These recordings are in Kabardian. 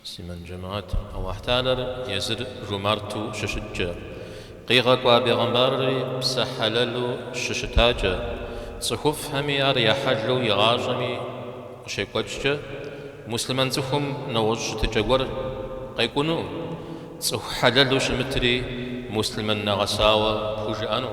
Муслъымэн джэмаат, Алыхьталэр езыр жумарту щыщыткӏэ, къигъэкӏуа бегъымбарри псэ хьэлэлу щыщытакӏэ, цӏыхуфӏхэми ар я хьэлу и гъащӏэми къыщекӏуэкӏкӏэ, муслъымэн цӏыхум нэгъуэщӏ щытыкӏэ гуэр къекӏуну, цӏыху хьэлэлу щымытри муслъымэн нэгъэсауэ пхужыӏэну.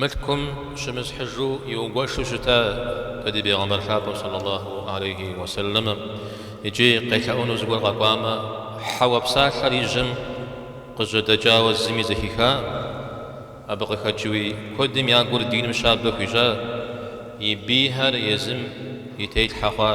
Мылъкум щымысхьыжу иугуэшу щытакъэ ди Бегъымбар Лъапӏэу сэллаллаху алейхи уэ сэллэмым икӏи къелъэӏуну зыгуэр къэкӏуамэ, хьэуэ псалъэр и жьэм къыжьэдэкӏауэ зыми зэхихакъым. Абы къыхэкӏыуи куэдым я гур диным щабэ хуищӏа, и бийхэр езым и телъхьэ хъуа.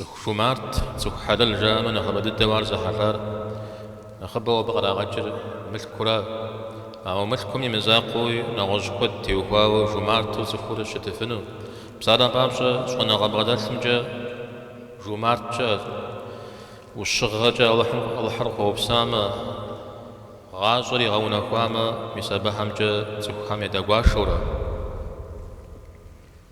Цӏыху жумарт, цӏыху хьэлэл жаӏэмэ нэхъыбэ дыдэу ар зэхьэлӏар. Нэхъыбэу абы къырагъэкӏыр мылъкура. Ауэ мылъкум и мызакъуэуи нэгъуэщӏ куэд теухуауэ жумарту цӏыхур щытыфыну. Псалъэм папщӏэ, щӏэныгъэ бгъэдэлъымкӏэ жумарт щыӏэ. Ӏущыгъэкӏэ Алыхьыр къыхуэупсамэ, гъащӏэр игъэунэхуамэ, мис абыхэмкӏэ цӏыхухэм ядэгуашэурэ.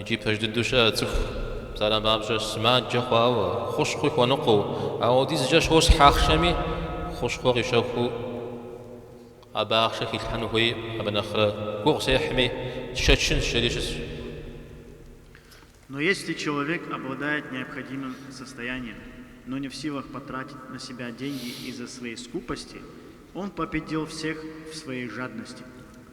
Икӏи пэж дыдэу щыӏэ цӏыху псалъэм папщӏэ, сымаджэ хъуауэ, хущхъуи хуэныкъуэу, апхуэдизкӏэ щосхь ахъшэми, хущхъуэ къищэхуу абы ахъшэ хилъхьэну хуей, абы нэхърэ гугъу сехьми, сшэчынщ, жери щысщ. Но если человек обладает необходимым состоянием, но не в силах потратить на себя деньги из-за своей скупости, он победил всех в своей жадности.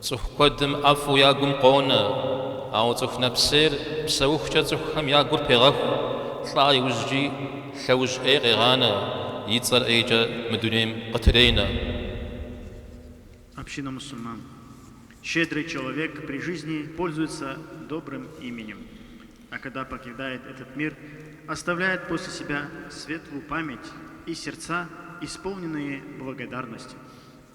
Цӏыху куэдым ӏэфӏу я гум къонэ, ауэ цӏыху нэпсейр псэухукӏэ цӏыхухэм я гур пегъэху, лӏа иужькӏи лъэужь ӏей къегъанэ, и цӏэр ӏейкӏэ мы дунейм къытыренэ. Община мусульман Щедрый человек при жизни пользуется добрым именем, а когда покидает этот мир, оставляет после себя светлую память и сердца, исполненные благодарности.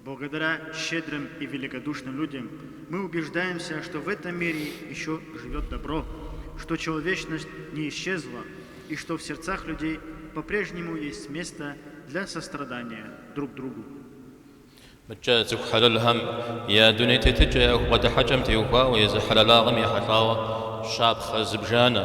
Благодаря щедрым и великодушным людям мы убеждаемся, что в этом мире еще живет добро, что человечность не исчезла и что в сердцах людей по-прежнему есть место для сострадания друг другу. Мыдкӏэ цӏыху хьэлэлхэм я дуней тетыкӏэ я бгъэдыхьэкӏэм теухуауэ езы хьэлэлагъэм ехьэлӏауэ щапхъэ зыбжанэ.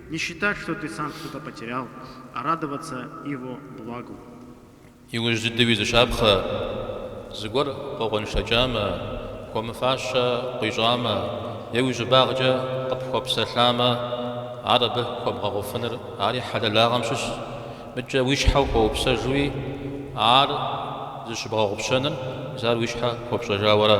Не считать, что ты сам что-то потерял, а радоваться Его благу. Иужь дыдэуи зы щапхъэ, зыгуэр къокъуэншэкӏамэ, хуэмыфащэ къуищӏамэ е уи щӏыбагъкӏэ къыпхуэпсэлъамэ, ар абы хуэбгъэгъуфыныр ари хьэлэлагъэм щыщщ, мыдкӏэ уи щхьэ ухуэупсэжуи, ар зыщыбгъэгъупщэныр мис ар уи щхьэ хуэпщӏэжауэра.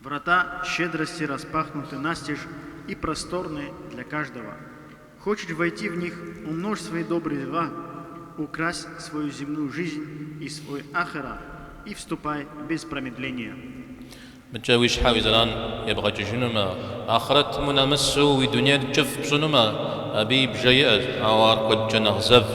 Врата щедрости распахнуты настежь и просторны для каждого. Хочешь войти в них, умножь свои добрые дела, укрась свою земную жизнь и свой ахера и вступай без промедления. Мыдэкӏэ уи щхьэ уи зэран ебгъэкӏыжынумэ, ахърэтым унэмысу, уи дунейр кӏыфӏ пщӏынумэ, абы и бжэ щыӏэщ, ауэ ар куэдкӏэ нэхъ зэвщ.